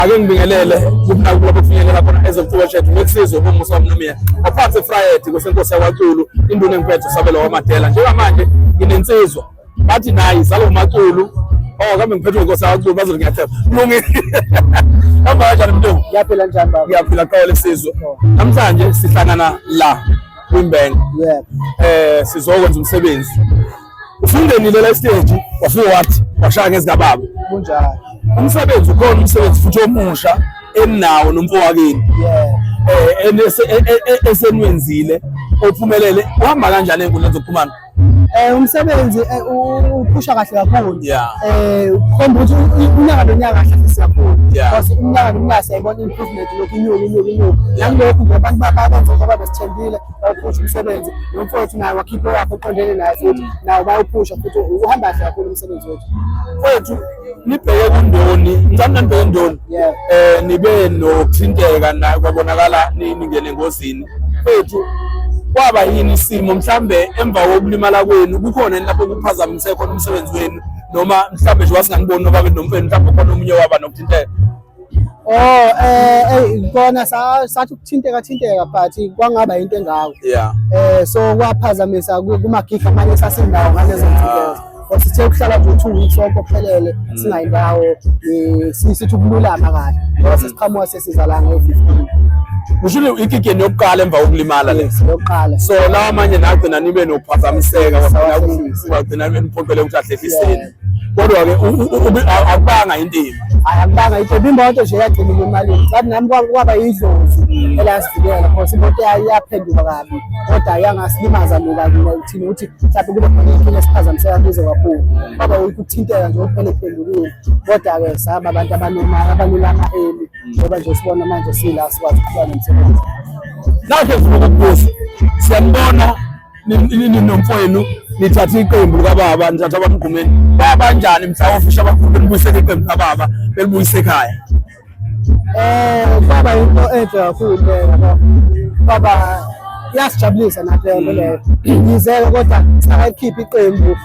ake ngibingelele kubona kulapho kufinyelela khona ezokucula shethu ngekusizwe umusa womnomiya ophathe efrayedi kwesenkosi yakwaculu induna enkuphethe usabelo wamadela njengamanje nginensizwa bathi nayi zalo maculu oh kambe ngiphethe inkosi yakwaculu bazothi ngiyathemba kulungile hamba kanjani mntungu ngiyaphila njani baba ngiyaphila qolo lesizwe oh. namhlanje sihlangana la kwimbank um eh, sizokwenza umsebenzi ufungenile la stage wafika wathi washaya ngezikababa kunjani umsebenzi ukhona umsebenzi futhi omusha eninawo nomfowakini eh esenwenzile ophumelele uhamba kanjani enkundleni zokuxhumana eh umsebenzi uphusha kahle kakhulu eh ukhomba ukuthi unyaka nonyaka kahle afisa kakhulu because unyaka nonyaka siyayibona improvement lokhu inyuka inyuka inyuka nalokhu nje abantu babantu ababe sithembile bawuphusha umsebenzi nomfowethu naye wakhipha wakhe oqondene naye futhi nawo bayawuphusha futhi uhamba kahle kakhulu umsebenzi wethu kwethu nibheke kundoni ngicabanga nibheke ndoni um nibe nokuthinteka nayo kwabonakala ningene engozini kwethu kwaba yini isimo mhlambe emva kokulimala kwenu kukhona yini lapho kuphazamise khona umsebenzi wenu noma mhlambe nje wasinganiboni nobabe nomfeni mhlambe khona omunye waba nokuthinteka Oh eh hey ngibona sa sathi ukuthinteka thinteka but kwangaba into engako. Yeah. Eh so kwaphazamisa kuma gig amanye sasindawo ngalezo nsuku. Wasithe ukuhlala nje 2 weeks sonke ophelele mm. singayindawo eh, sithi ukululama kahle. Ngoba mm. sesiqhamuka sesizalanga ngo-15. Ushilo ikikeni yokuqala emva kokulimala le. Yokuqala. So lawa manje nagcina nibe nokuphazamiseka wagcina wagcina nibe niphoqele ukuthi ahlehlise. kodwa-ke akubanga intimba hayi akubanga intimba imoto nje yagcina imemalini but nami kwaba yidlozi mm. elasivikela cause imoto yaphenduka kabi kodwa yangasilimaza luka kina uthini ukuthi mhlawumbe kube khona inkinga esiphazamiseka kuze kakhulu kwaba ukuthi ukuthinteka nje kuphela iphendukile kodwa-ke saba abantu abanomali abalulama eli ngoba nje sibona manje sila sikwazi ukuqhuba nomsebenzi nakhe sifuna ukubuza siyambona ninomfowenu nithathe iqembu likababa nithatha abamgqumeni babanjani mhla ofisha abakhulu belibuyisela iqembu likababa belibuyise ekhaya um baba yinto enhle kakhulu yabo baba iyasijabulisa nathi leyo yize-ke kodwa sakayikhiphi iqembu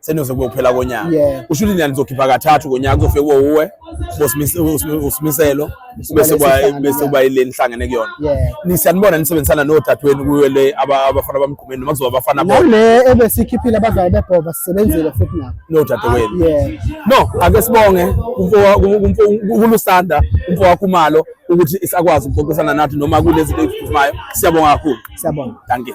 seniyoze kube kuphela konyaka yeah. usho ukuthi nizokhipha kathathu konyaka kuzofike kuwo uwe usimiselo bese bese kuba ile nihlangene kuyona yeah. nisiyanibona nisebenzisana nodadewenu kuyo le abafana bamgqumeni noma kuzoba abafana bona le ebesikhiphile abadlali bebhoba sisebenzile futhi nabo nodadewenu yeah. no ake sibonge kulusanda umfo wakho umalo ukuthi isakwazi ukuxoxisana nathi noma kunezinto eziphuthumayo siyabonga kakhulu siyabonga dankie